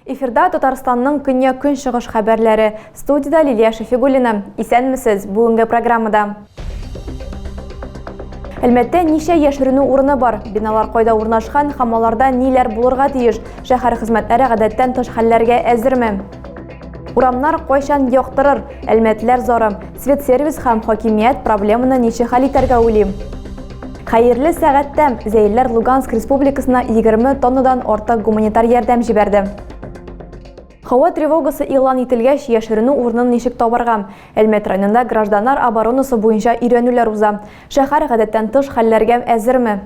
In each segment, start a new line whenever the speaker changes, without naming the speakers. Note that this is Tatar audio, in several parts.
Эфирда Татарстанның көньяк-көнчыгыш хәбәрләре. Студида Лилия Шәфигуллина. Исәнмесез! Бүгенге программада Әлмәттә ничә яшеренү урыны бар? Биналар кайда урнашкан һәм аларда ниләр булырга тиеш? Шәһәр хезмәтләре гадәттән тыш хәлләргә әзерме? Урамнар кайчан яктырыр? Әлмәтләр зары. Свет сервис һәм хакимият проблеманы ничек хәл итәргә уйлый? Хәерле сәгатьтә Зәйләр Луганск республикасына 20 тоннадан артык гуманитар ярдәм җибәрде. Һава тревогасы игълан ителгәч, яшеренү урынын ничек табарга? Әлмәт районында гражданнар оборонасы буенча өйрәнүләр уза. Шәһәр гадәттән тыш хәлләргә әзерме?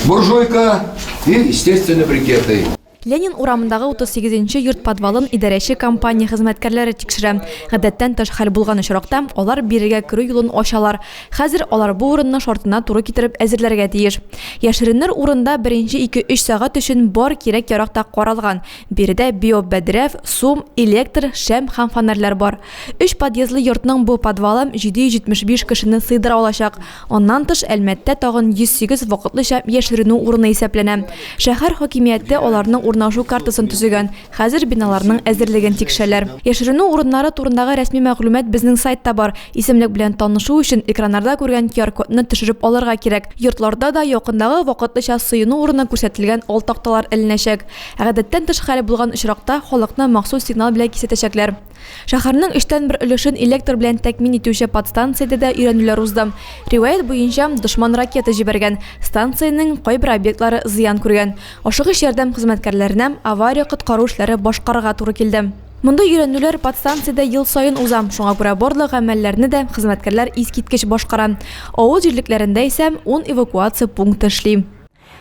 Буржуйка
и естественные брикеты. Ленин урамындагы
38 нче йорт подвалын идарәче компания хезмәткәрләре тикшерә. Гадәттән тыш хәл булган очракта, алар бирегә керү юлын ачалар. Хәзер алар бу урынны шартына туры китереп әзерләргә тиеш. Яшеренер урында беренче ике-өч сәгать өчен бар кирәк-ярак та каралган. Биредә биобәдрәф, сум, электр, шәм һәм фонарьлар бар. Өч подъездлы йортның бу подвалы 775 кешене сыйдыра алачак. Аннан тыш, Әлмәттә тагын 108 вакытлыча яшеренү урыны исәпләнә. Шәһәр хакимияте аларның урнашу картасын төзегән, хәзер биналарның әзерлеген тикшерәләр. Яшеренү урыннары турындагы рәсми мәгълүмат безнең сайтта бар. Исемлек белән танышу өчен экраннарда күргән QR-кодны төшереп алырга кирәк. Йортларда да якындагы вакытлыча сыену урыны күрсәтелгән ал такталар эленәчәк. Гадәттән тыш хәл булган очракта халыкны махсус сигнал белән кисәтәчәкләр. Шәһәрнең өчтән бер өлешен электр белән тәкъмин итүче подстанциядә дә өйрәнүләр узды. Риваять буенча, дошман ракета җибәргән, станциянең кайбер объектлары зыян күргән. Ашыгыч ярдәм хезмәткәрләренә авария-коткару эшләре башкарырга туры килде. Мондый өйрәнүләр подстанциядә ел саен уза, шуңа күрә барлык гамәлләрне дә хезмәткәрләр искиткеч башкара. Авыл җирлекләрендә исә ун эвакуация пункты эшли.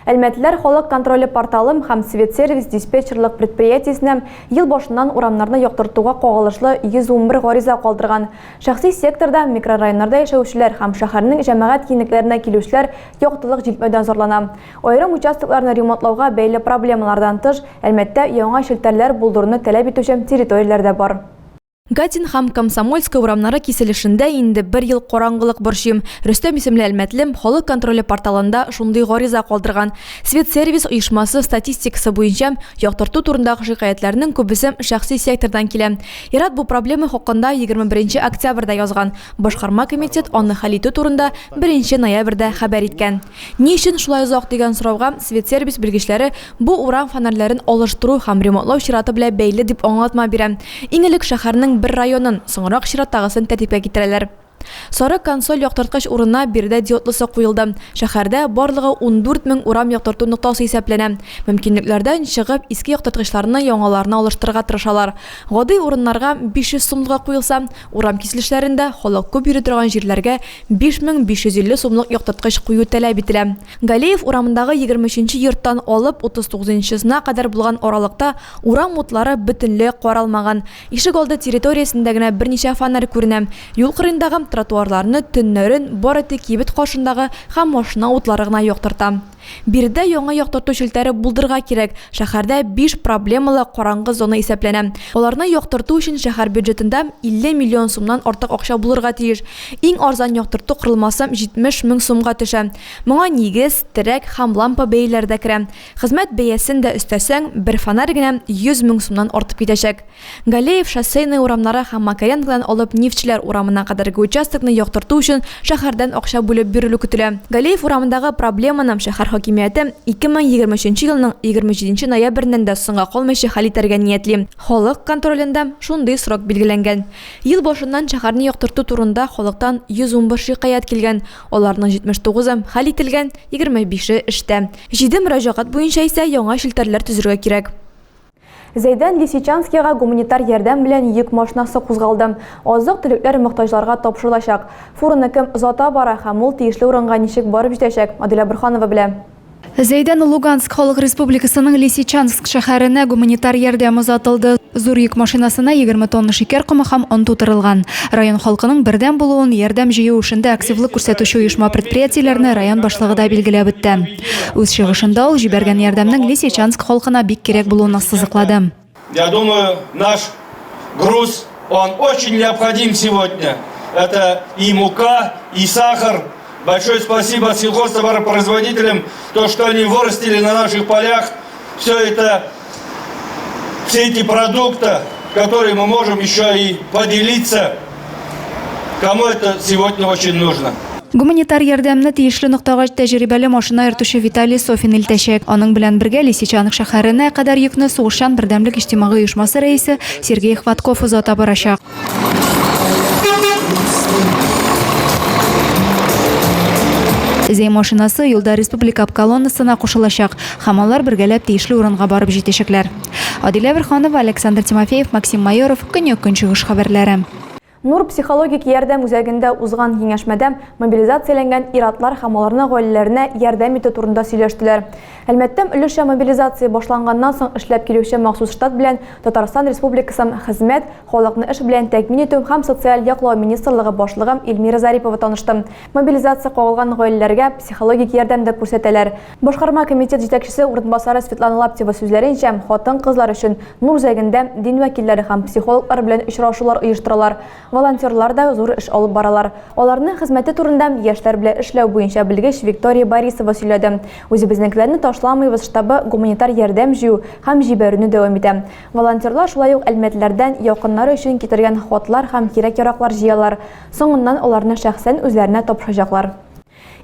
Әлмәтлеләр халык контроле порталым һәм Светсервис диспетчерлык предприятиесенә ел башыннан урамнарны яктыртуга кагылышлы 111 гариза калдырган. Шәхси секторда микрорайоннарда яшәүчеләр һәм шәһәрнең җәмәгать киңлекләренә килүчеләр яктылык җитмәүдән зарлана. Аерым участокларны ремонтлауга бәйле проблемалардан тыш, Әлмәттә яңа челтәрләр булдыруны таләп итүче территорияләр дә бар. Гатин һәм Комсомольская урамнары киселешендә инде бер ел караңгылык борчыйм. Рөстәм исемле әлмәтлем Халык контроле порталында шундый гариза калдырган. Светсервис оешмасы статистикасы буенча, яктырту турындагы шикаятьләрнең күбесе шәхси сектордан килә. Ир-ат бу проблема хакында 21 октябрьдә язган. Башкарма комитет аны хәл итү турында 1 ноябрьдә хәбәр иткән. Ни өчен шулай озак дигән сорауга Светсервис белгечләре бу урам фонарьләрен алыштыру һәм ремонтлау чираты белән бәйле дип аңлатма бирә. Иң элек шәһәрнең бер районын, соңрак чираттагысын тәртипкә китерәләр. Сары консоль яктырткыч урынына биредә диодлысы куелды. Шәһәрдә барлыгы ундүрт мең урам яктырту ноктасы исәпләнә. Мөмкинлекләрдән чыгып, иске яктырткычларны яңаларына алыштырырга тырышалар. Гади урыннарга 500 сумлыгы куелса, урам киселешләрендә, халык күп йөри торган җирләргә 5550 сумлык яктырткыч кую таләп ителә. Галеев урамындагы егерме өченче йорттан алып утыз тугызынчысына кадәр булган аралыкта урам утлары бөтенләй каралмаган. Ишегалды территориясендә генә берничә фонарь күренә. Юл кырыендагы тротуарларны төннәрен бары тик кибет каршындагы һәм машина утлары гына яктырта. Биредә яңа яктырту челтәре булдырырга кирәк. Шәһәрдә биш проблемалы караңгы зона исәпләнә. Аларны яктырту өчен шәһәр бюджетында 50 миллион сумнан артык акча булырга тиеш. Иң арзан яктырту корылмасы 70 мең сумга төшә. Моңа нигез, терәк һәм лампа бәяләре дә керә. Хезмәт бәясен дә өстәсәң, бер фонарь генә 100 мең сумнан артып китәчәк. Галеев, Шоссейная урамнары һәм Макаренкодан алып Нефтьчеләр урамына кадәрге участокны яктырту өчен шәһәрдән акча бүлеп бирелү көтелә. Галеев урамындагы проблеманы шәһәр хакимияте 2023 елның 27 ноябреннән дә соңга калмыйча хәл итәргә ниятли. Халык контролендә шундый срок билгеләнгән. Ел башыннан шәһәрне яктырту турында халыктан 111 шикаять килгән, аларның 79-ы хәл ителгән, 25-е эштә. Җиде мөрәҗәгать буенча исә яңа челтәрләр төзергә кирәк. Зәйдән Лисичанскига гуманитар ярдәм белән йөк машинасы кузгалды. Азык-төлекләр мохтаҗларга тапшырылачак. Фураны кем озата бара һәм ул тиешле урынга ничек барып җитәчәк, Адилә Борһанова белә. Зәйдән
Луганск Халык Республикасының Лисичанск шәһәренә гуманитар ярдәм озатылды. Зур йөк машинасына 20 тонна шикәр комы һәм он тутырылган. Район халкының бердәм булуын, ярдәм җыю эшендә активлык күрсәтүче оешма-предприятиеләрне район башлыгы да билгеләп үтте. Үз чыгышында ул җибәргән ярдәмнең Лисичанск халкына бик кирәк булуын ассызыклады. Я думаю,
наш груз, он очень необходим сегодня. Это и мука, и сахар. Большое спасибо сельхозтоваропроизводителям, то, что они вырастили на наших полях. Все это все эти продукты, которые мы можем еще и поделиться, кому это сегодня очень нужно. Гуманитар ярдәмне
тиешле ноктага тәҗрибәле машина йөртүче Виталий Софин илтәчәк. Аның белән бергә Лисичанов шәһәренә кадәр йөкне сугышчан бердәмлек иҗтимагый оешмасы рәисе Сергей Хватков озата барачак. Зәй машинасы юлда республика колоннасына кушылачак һәм алар бергәләп тиешле урынга барып җитәчәкләр. Адилә Верханова, Александр Тимофеев, Максим Майоров, Көньяк Көнчыгыш хәбәрләре. Нур психологик
ярдәм үзәгендә узган киңәшмәдә мобилизацияләнгән ир-атлар һәм аларның гаиләләренә ярдәм итү турында сөйләштеләр. Әлмәттәм өлешчә мобилизация башланганнан соң эшләп килүче махсус штат белән Татарстан Республикасының Хезмәт, халыкны эш белән тәэмин итү һәм социаль яклау министрлыгы башлыгы Эльмира Зарипова танышты. Мобилизация кагылган гаиләләргә психологик ярдәм дә күрсәтәләр. Башкарма комитет җитәкчесе урынбасары Светлана Лаптева сүзләренчә, хатын-кызлар өчен Нур Зәгендә дин вәкилләре һәм психологлар белән очрашулар оештыралар. Волонтерлар да зур эш алып баралар. Аларның хезмәте турында яшьләр белән эшләү буенча белгеч Виктория Борисова сөйләде. Үзебезнекеләрне ташламыйбыз штабы гуманитар ярдәм җыю һәм җибәрүне дәвам итә. Волонтерлар шулай ук әлмәтлеләрдән якыннары өчен китергән хатлар һәм кирәк-яраклар җыялар. Соңыннан аларны шәхсән үзләренә тапшырачаклар.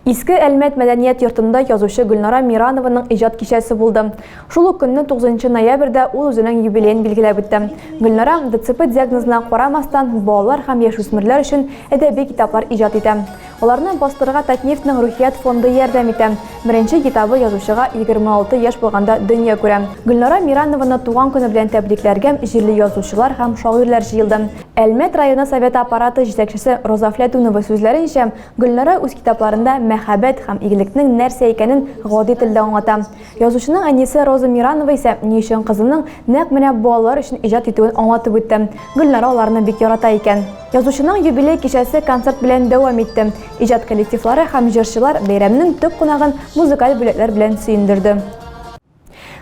Иске Әлмәт мәдәният йортында язучы Гөлнара Миранованың иҗат кичәсе булды. Шул ук көнне, 9 ноябрьдә, ул үзенең юбилеен билгеләп үтте. Гөлнара, ДЦП диагнозына карамастан, балалар һәм яшүсмерләр өчен әдәби китаплар иҗат итә. Аларны бастырырга Татнефтьнең Рухият фонды ярдәм итә. Беренче китабы язучыга 26 яшь булганда дөнья күрә. Гөлнара Миранованы туган көне белән тәбрикләргә җирле язучылар һәм шагыйрьләр җыелды. Әлмәт районы Советы аппараты җитәкчесе Роза Фләтүнова сүзләренчә, Гөлнара үз китапларында мәхәббәт һәм игелекнең нәрсә икәнен гади телдә аңлата. Язучының әнисе Роза Миранова исә ни өчен кызының нәкъ менә балалар өчен иҗат итүен аңлатып үтте, Гөлнара аларны бик ярата икән. Язучының юбилей кичәсе концерт белән дәвам итте. Иҗат коллективлары һәм җырчылар бәйрәмнең төп кунагын музыкаль бүләкләр белән сөендерде.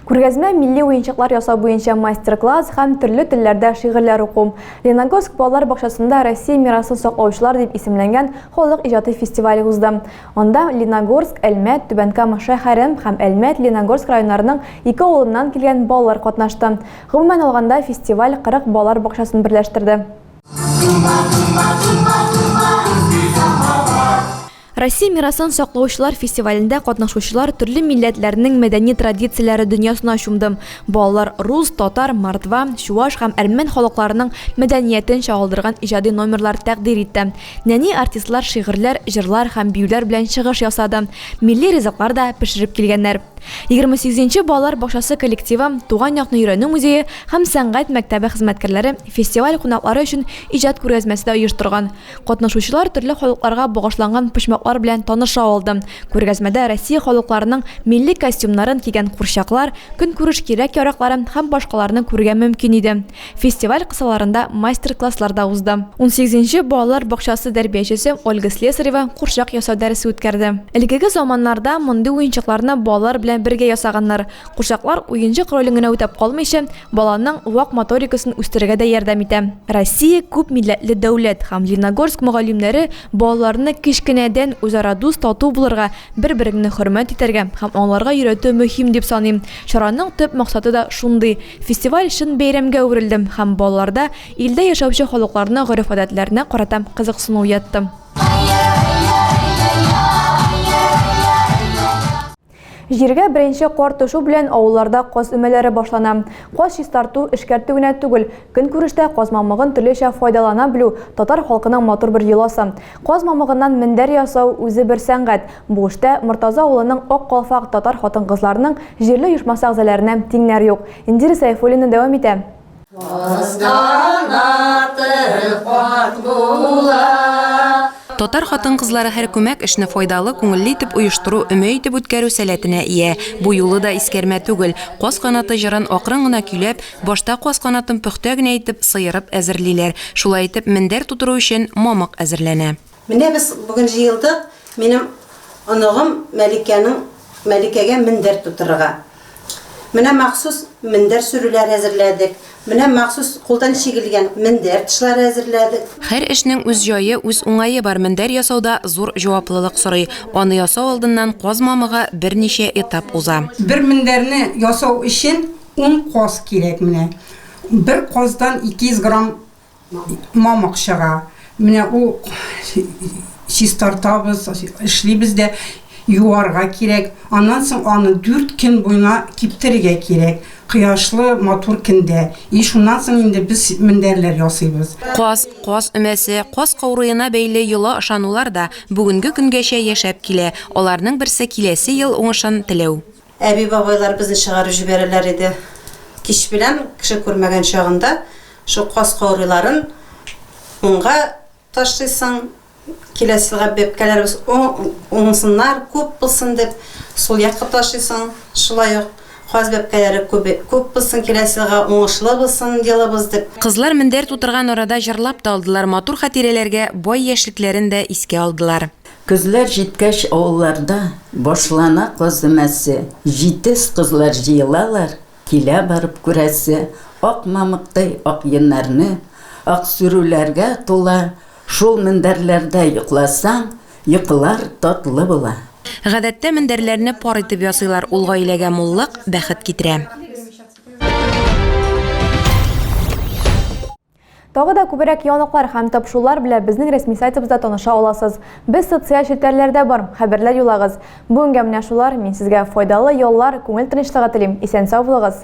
Күргәзмә милли уенчыклар ясау буенча мастер-класс һәм төрле телләрдә шигырьләр уку, Леногорск балалар бакчасында Россия мирасын саклаучылар дип исемләнгән халык иҗаты фестивале узды. Анда Леногорск, Әлмәт, Түбән Кама шә һәрем һәм Әлмәт, Леногорск районнарының ике авылыннан килгән балалар катнашты. Гомумән алганда, фестиваль 40 балалар бакчасын берләштерде. Россия мирасын саклаучылар фестивалендә катнашучылар төрле милләтләрнең мәдәни традицияләре дөньясына чумды. Балалар рус, татар, мордва, чуаш һәм әрмән халыкларының мәдәниятен чагылдырган иҗади номерлар тәкъдир итте. Нәни артистлар шигырьләр, җырлар һәм биюләр белән чыгыш ясады, милли ризыклар да пешереп килгәннәр. Егерме сигезенче балалар бакчасы коллективы, Туган якны өйрәнү музее һәм сәнгать мәктәбе хезмәткәрләре фестиваль кунаклары өчен иҗат күргәзмәсе дә оештырган. Катнашучылар төрле халыкларга багышланган почмаклар белән таныша алды. Күргәзмәдә Россия халыкларының милли костюмнарын кигән курчаклар, көнкүреш кирәк-яракларын һәм башкаларны күрергә мөмкин иде. Фестиваль кысаларында мастер-класслар да узды. Унсигезенче балалар бакчасы тәрбиячесе Ольга Слесарева курчак ясау дәресе үткәрде. Элгеге заманнарда мондый уенчыкларны балалар белән бергә ясаганнар. Курчаклар уенчык ролен генә үтәп калмыйча, баланың вак моторикасын үстерергә дә ярдәм итә. Россия күп милләтле дәүләт һәм Леногорск мөгаллимнәре балаларны кечкенәдән үзара дус, тату булырга, бер-береңне хөрмәт итәргә һәм аңларга өйрәтү мөһим дип саныйм. Чараның төп максаты да шундый. Фестиваль чын бәйрәмгә әверелде һәм балаларда илдә яшәүче халыкларның гореф-гадәтләренә карата кызыксыну уятты. Җиргә беренче кар төшү белән авылларда каз өмәләре башлана. Каз чистарту, эшкәртү генә түгел, көнкүрештә каз мамыгын төрлечә файдалана белү, татар халкының матур бер йоласы. Каз мамыгыннан мендәр ясау, үзе бер сәнгать. Бу эштә Мортаза авылының Ак калфак татар хатын-кызларының җирле оешмасы әгъзаләренә тиңнәр юк. Индира Сәйфуллина дәвам итә. Кыз канаты кат
була. Татар хатын-кызлары һәр күмәк эшне файдалы, күңелле итеп оештыру, өмә итеп үткәрү сәләтенә ия. Бу юлы да искәрмә түгел. Каз канаты җырын акрын гына көйләп, башта каз канатын пөхтә генә итеп, сыерып әзерлиләр. Шулай итеп, мендәр тутыру өчен мамык әзерләнә. Менә без бүген
җыелдык минем оныгым Мәликәнең Мәликәгә мендәр тутырырга. Менә махсус мендәр сөрүләре әзерләдек. Менә махсус кулдан чигелгән мендәр тышлары әзерләдек. Һәр эшнең үз
җае, үз уңае бар Мендәр ясау да зур җаваплылык сорый. Аны ясау алдыннан каз мамыгы берничә этап
уза.
Бер
мендәрне ясау
өчен
ун каз кирәк
менә.
Бер каздан 200 грамм Мамык чыга. Менә ул чистартабыз, эшлибез дә, юарга кирәк. Аннан соң аны дүрт көн буена киптерергә кирәк, кояшлы, матур көндә. И шуннан соң инде без мендәрләр ясыйбыз. Каз, каз
өмәсе, каз каурыена бәйле йола ышанулар да бүгенге көнгәчә яшәп килә, аларның берсе киләсе ел уңышын теләү. Әби-бабайлар
безне чыгарып җибәрәләр иде. Кич белән, кеше күрмәгән чагында, шул каз каурыйларын уңга ташлыйсың, киләсе елга бәбкәләребез уңсыннар, күп булсын дип, сул якка ташлыйсың, шулай ук каз бәбкәләре күп булсын, киләсе елга уңышлы булсын елыбыз дип. Кызлар мендәр тутырган
арада җырлап та алдылар, матур хатирәләргә бай яшьлекләрен дә искә алдылар. Көзләр җиткәч
авылларда башлана каз өмәсе, җитез кызлар җыелалар, килә барып күрәсе, ак мамыктай ак йоннарны, аксүрүләргә тула шул мендәрләрдә йокласаң, йокылар татлы була. Гадәттә
мендәрләрне пар итеп ясыйлар, ул гаиләгә муллык, бәхет китерә.
Тагы да күбрәк яныклар һәм тапшулар белән безнең рәсми сайтыбызда таныша аласыз. Без социаль челтәрләрдә бар, хәбәрләр юлагыз. Бүгенгә менә шулар, мин сезгә файдалы яллар, күңел тынычлыгы телим, исән-сау булыгыз!